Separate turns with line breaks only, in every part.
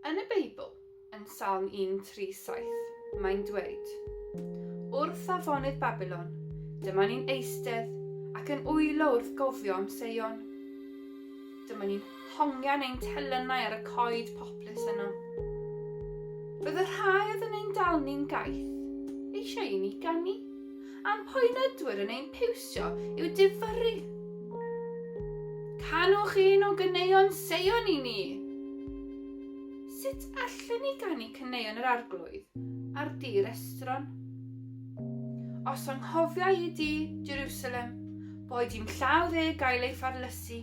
Yn y Beibl, yn Salm 137, mae'n dweud, Wrth afonydd Babylon, dyma ni'n eistedd ac yn wylo wrth gofio am Seion. Dyma ni'n hongian ein telynau ar y coed poplys yno. Bydd y rhai oedd yn ein dal ni'n gaeth eisiau i ni gannu, a'n poenydwyr yn ein piwsio i'w difyrru. Canwch un o gyneuon seion i ni! Sut allen ni gannu cyneuon yr arglwydd ar dir estron? Os anghofia i di, Jerusalem, Boed i'm llaw dde gael ei pharlysu.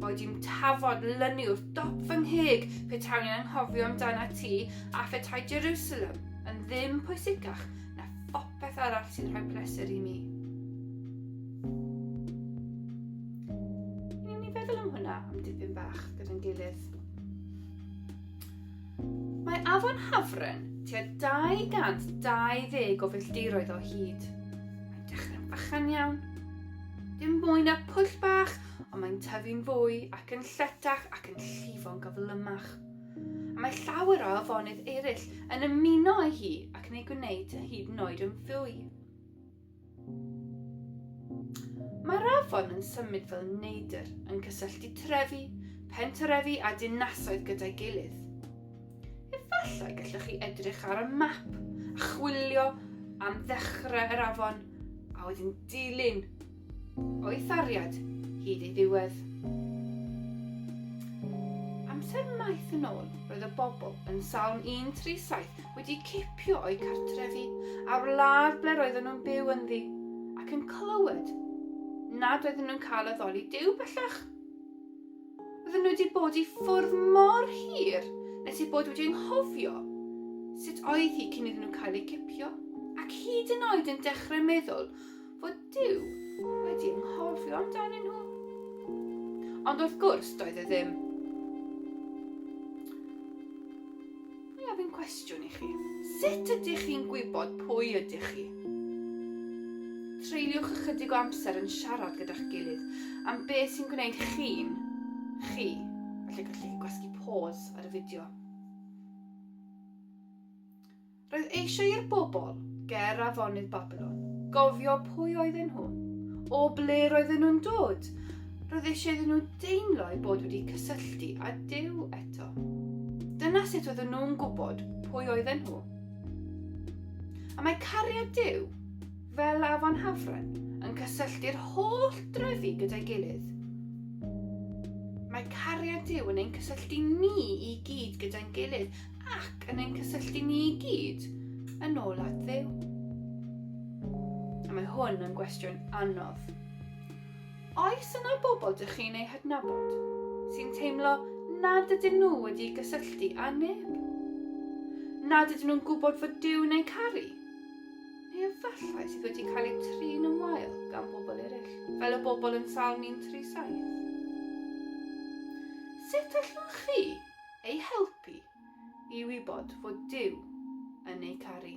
Boed i'm tafod lynu wrth dop fy ngheg petawn i'n anghofio amdana ti a phetai Jerusalem yn ddim pwysicach na phopeth arall sy'n rhoi pleser i mi. Ni'n ni feddwl am hwnna am dipyn bach gyda'n gilydd. Mae afon Hafren tua 220 o filltiroedd o hyd. Mae'n dechrau bychan iawn. Dim mwy na pwll bach, ond mae'n tyfu'n fwy ac yn lletach ac yn llifo'n gyflymach. A mae llawer o afonydd eraill yn ymuno â hi ac yn ei gwneud yn hyd yn oed yn fwy. Mae'r afon yn symud fel neidr yn cysylltu trefi, pentrefi a dinasoedd gyda'i gilydd. Efallai gallwch chi edrych ar y map a chwilio am ddechrau yr afon a wedyn dilyn o'i thariad hyd ei ddiwedd. Amser maith yn ôl, roedd y bobl yn Salm 137 wedi cipio o'u cartrefi a'r wlad ble roedden nhw'n byw ynddi, ac yn clywed nad oedden nhw'n cael addoli Duw bellach. Oedden nhw wedi bod i ffwrdd mor hir nes eu bod wedi ynghofio sut oedd hi cyn iddyn nhw cael eu cipio, ac hyd yn oed yn dechrau meddwl fod Duw wedi ynghofio amdanyn nhw. Ond wrth gwrs, doedd e ddim. Mae ofyn cwestiwn i chi. Sut ydych chi'n gwybod pwy ydych chi? Treuliwch ychydig o amser yn siarad gyda'ch gilydd am beth sy'n gwneud chi'n chi. Felly gallwch chi gwasgu pôs ar y fideo. Roedd eisiau i'r bobl ger afonydd Babylon gofio pwy oedden nhw, o ble roedden nhw'n dod, Roedd eisiau iddyn nhw deimlo eu bod wedi cysylltu â Duw eto. Dyna sut oedden nhw'n gwybod pwy oedden nhw. A mae cariad Duw, fel afon hafren, yn cysylltu'r holl drefi gyda'i gilydd. Mae cariad Duw yn ein cysylltu ni i gyd gyda'n gilydd ac yn ein cysylltu ni i gyd yn ôl at ddew. A mae hwn yn gwestiwn anodd. Oes yna bobl dych chi'n eu hadnabod sy'n teimlo nad ydyn nhw wedi gysylltu â neb? Nad ydyn nhw'n gwybod fod Duw yn eu caru? Neu efallai sydd wedi cael eu trin yn wael gan bobl eraill, fel y bobl yn Salm 137? Sut allwn chi ei helpu i wybod fod Dyw yn ei caru.